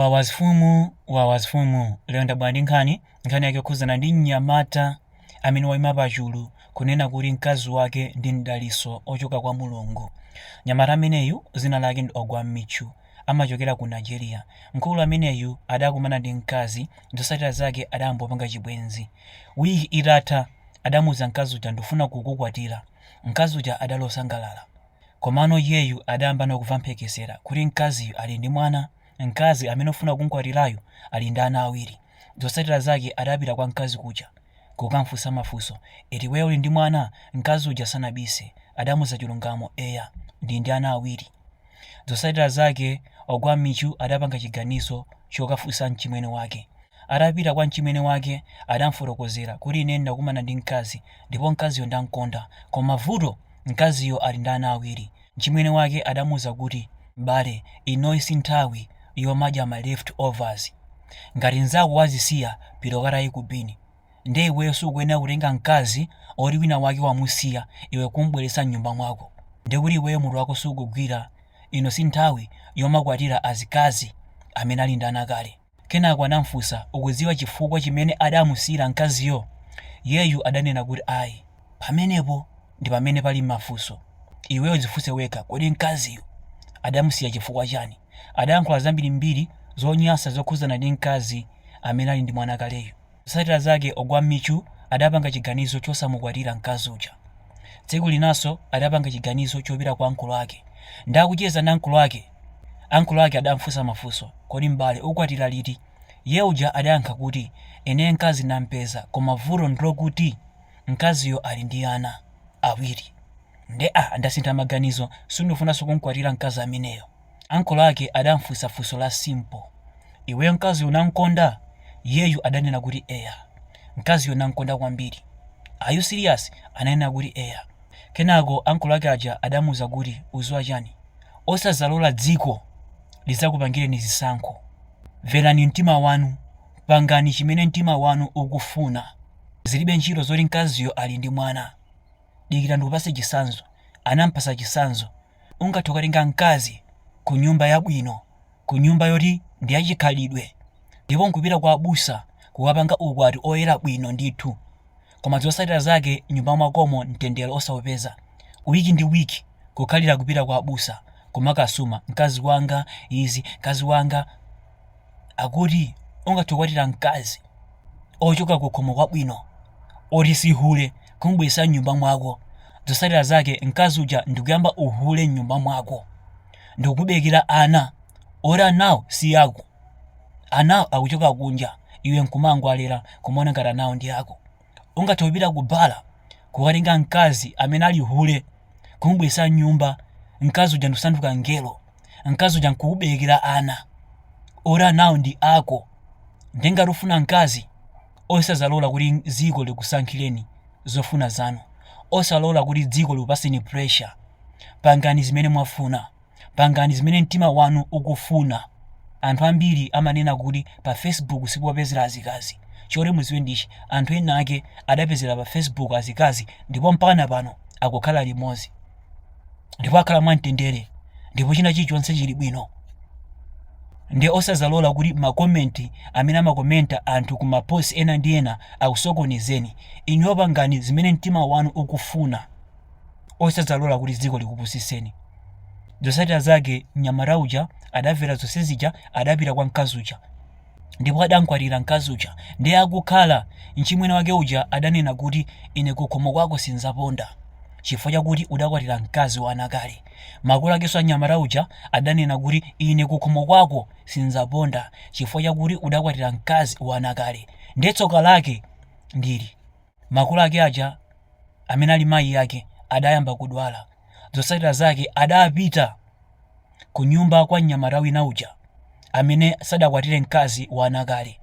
Wawa mfumu wawa mfumu Lero ndabwera ndi nkhani, nkhani yake yokhudzana ndi mnyamata amene waima pachulu kunena kuti mkazi wake ndi mdaliso ochoka kwa Mulungu. Mnyamata ameneyu zina lake ndi Ogwa Michu amachokera ku Nigeria. Mkulu ameneyu adakumana ndi mkazi zosatira zake adayamba kupanga chibwenzi. Week itatha adamuuza mkazi uja ndufuna kukukwatira. Mkazi uja adali osangalala. Komano iyeyu adayambano kuva mphekesera kuti mkaziyu ali ndi mwana. Mkazi amene ufuna kumkwatirayu ali ndi ana awiri. Zotsatira zake adapita kwa mkazi kuja kukamfunsa mafunso eti iweyo uli ndi mwana? Mkazi uja sanabise adamuza chilungamo eya ndili ndi ana awiri. Zotsatira zake Ogwa Michu adapanga chiganizo chokafunsa mchimwene wake. Atapita kwa mchimwene wake adamfotokozera kuti ine ndakumana ndi mkazi ndipo mkaziyo ndamkonda koma vuto mkaziyo ali ndi ana awiri. Mchimwene wake adamuuza kuti, M'bale, inoyi si nthawi yomadya ma left overs. Ngati mnzako wazisiya, pita ukataye ku bin. Ndiye iweyo sukuyenera kutenga mkazi oti wina wake wamusiya iwe kum'bweretsa m'nyumba mwako. Ndiye kuti iweyo mutu wako sukugwira. Ino si nthawi yomakwatira azikazi amene ali ndi ana kale. Kenako anamufunsa, Ukudziwa chifukwa chimene adamusiyira mkaziyo? Iyeyu adanena kuti ayi. Pamenepo ndi pamene pali mafunso. Iweyo dzifunse wekha, kodi mkaziyu adamusiya chifukwa chani? Adayankhula zambirimbiri zonyansa zokhudzana ndi mkazi amene ali ndi mwana kaleyu. Zotsatira zake Ogwa Michu adapanga chiganizo chosamukwatira mkazi uja. Tsiku linanso adapanga chiganizo chopita kwa ankolo ake. Nde akucheza ndi ankolo ake, ankolo ake adamfunsa mafunso, Kodi m'bale ukwatira liti? Iye uja adayankha kuti, Ine mkazi ndam'peza koma vuto ndilokuti mkaziyo ali ndi ana awiri. Nde ah ndasintha maganizo, sindifunanso kum'kwatira mkazi ameneyo. Ankolo ake adamfunsa funso la simple, iweyo mkaziyo unamkonda? Iyeyu adanena kuti eya mkaziyo namkonda kwambiri. Are you serious? Ananena kuti eya. Kenako ankolo ake aja adamuuza kuti uziwa chani? Osazalola dziko lizakupangireni zisankho. Verani mtima wanu. Pangani chimene mtima wanu ukufuna. Zilibe ntchito zoti mkaziyo ali ndi mwana. Dikira ndikupase chisanzo. Anampasa chisanzo. Ungathe kukatenga mkazi kunyumba yabwino, kunyumba yoti ndi yachikhalidwe, ndipo n'kupita kwa abusa kukapanga ukwati oyera bwino ndithu, koma zotsatira zake mnyumba mwakomo mtendere osaupeza, week ndi week kukhalira kupita kwa abusa kumakasuma, mkazi wanga izi, mkazi wanga. akuti ungathe kukwatira mkazi ochoka kukhomo kwabwino oti si hule kumubweretsa mnyumba mwako zotsatira zake mkazi uja ndikuyamba uhule mnyumba mwako ndikukuberekera ana oti anawo si ako anawo akuchoka kunja iwe nkumangowalera kumaona ngati anawo ndi ako ungathe kupita ku bala kukatenga mkazi amene ali hule, kumubweretsa m'nyumba, mkazi uja ndikusanduka mngelo, mkazi uja nkukuberekera ana, oti anawo ndi ako. Nde ngati ufuna mkazi, osazalola kuti dziko likusankhireni zofuna zanu. Osalola kuti dziko likupatseni pressure. Pangani zimene mwafuna. Pangani zimene mtima wanu ukufuna. Anthu ambiri amanena kuti pa Facebook si popezera azikazi. Choti mudziwe ndi ichi, anthu ena ake adapezera pa Facebook azikazi ndipo mpakana pano akukhala limodzi. Ndipo akhala mwamtendere ndipo china chilichonse chili bwino. Nde osazalola kuti ma comment amene amakomenta anthu ku ma post ena ndi ena akusokonezeni. Inuyo pangani zimene mtima wanu ukufuna. osadzalola kuti dziko likupusitseni. Zotsatira zake mnyamata uja adamvera zonse zija adapita kwa mkazi uja ndipo adamkwatira mkazi uja ndiye akukhala mchimwene wake uja adanena kuti ine kukhomo kwako sindzaponda chifukwa chakuti udakwatira mkazi wa ana kale. Makolo akenso a mnyamata uja adanena kuti ine kukhomo kwako sindzaponda chifukwa chakuti udakwatira mkazi wa ana kale. Ndiye tsoka lake ndi ili. Makolo ake aja, amene ali mayi ake, adayamba kudwala. Zotsatira zake adapita kunyumba kwa mnyamata wina uja amene sadakwatire mkazi wa ana kale.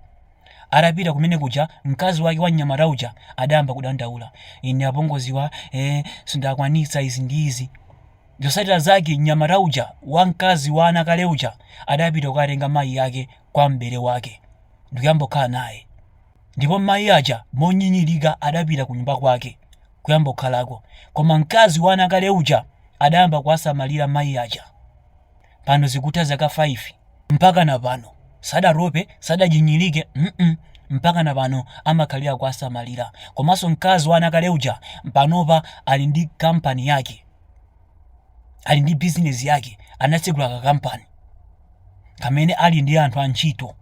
Atapita kumene kuja, mkazi wake wa mnyamata uja adayamba kudandaula. Ine apongoziwa, eh, sindikwanitsa izi ndi izi. Zotsatira zake mnyamata uja wa mkazi wa ana kale uja adapita kukatenga mayi ake kwa mbale wake ndikuyamba kukhala naye. Ndipo mai aja monyinyirika adapita kunyumba kwake kuyamba kukhalako koma mkazi wa ana kale uja adayamba kuwasamalira mai aja. Pano zikutha zaka 5 mpakana pano sadatope sadanyinyirike mm mpakana pano amakhalira kuwasamalira komanso mkazi wa ana kale uja panopa ali ndi kampani yake. ali ndi bizinesi yake anatsegula kakampani kamene ali ndi anthu antchito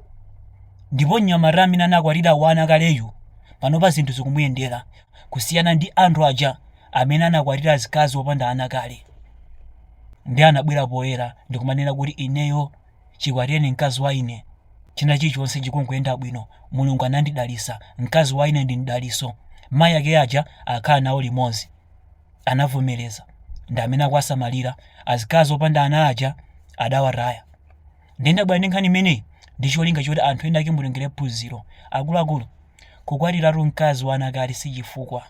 ndipo mnyamata amene anakwatira wa ana kaleyu panopa zinthu zikumuyendera kusiyana ndi anthu aja amene anakwatira azikazi opanda ana kale nde anabwera poyera ndikumanena kuti ineyo chikwatireni mkazi wa ine china chilichonse chikungoyenda bwino mulungu anandidalitsa mkazi wa ine ndi mdalitso mayi ake aja akhala nawo limodzi anavomereza ndi amene akuwasamalira azikazi opanda ana aja adawataya ndiye ndabwera ndi nkhani imeneyi ndi cholinga choti anthu ena ake mutengerepo phunziro akuluakulu kukwatiratu mkazi wa ana kale si chifukwa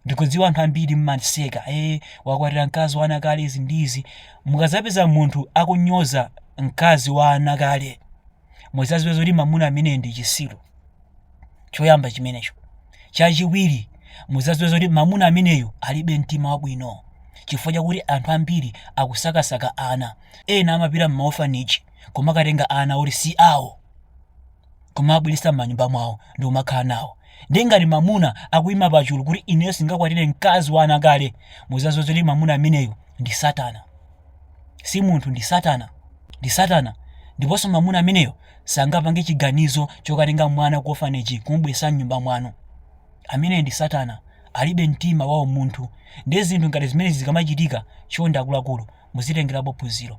ndikudziwa anthu ambiri mmaseka e wakwatira mkazi wa ana kale izi ndi izi mukadzapeza munthu akunyoza mkazi wa ana kale muzaziwe zoti mamuna ameneyo ndi chisiru choyamba chimenecho chachiwiri muzaziwe zoti mamuna ameneyo alibe mtima wabwino chifukwa chakuti anthu ambiri akusakasaka ana ena amapita m'maofaniji kumakatenga ana oti si awo kumabweresa m'manyumba mwawo n'kumakhala nawo ndiye ngati mamuna akuyima pachulu kuti ineyo sindingakwatire mkazi wa ana kale muzaziwe zoti mamuna ameneyo ndi satana si munthu, ndi Satana. Ndi Satana. Ndiponso mamuna ameneyo sangapange chiganizo chokatenga mwana ku orphanage n'kumubweretsa m'nyumba mwanu. Ameneyo ndi Satana. Alibe mtima wa umunthu. Ndiye zinthu ngati zimenezi zikamachitika, chonde akuluakulu, muzitengerapo phunziro.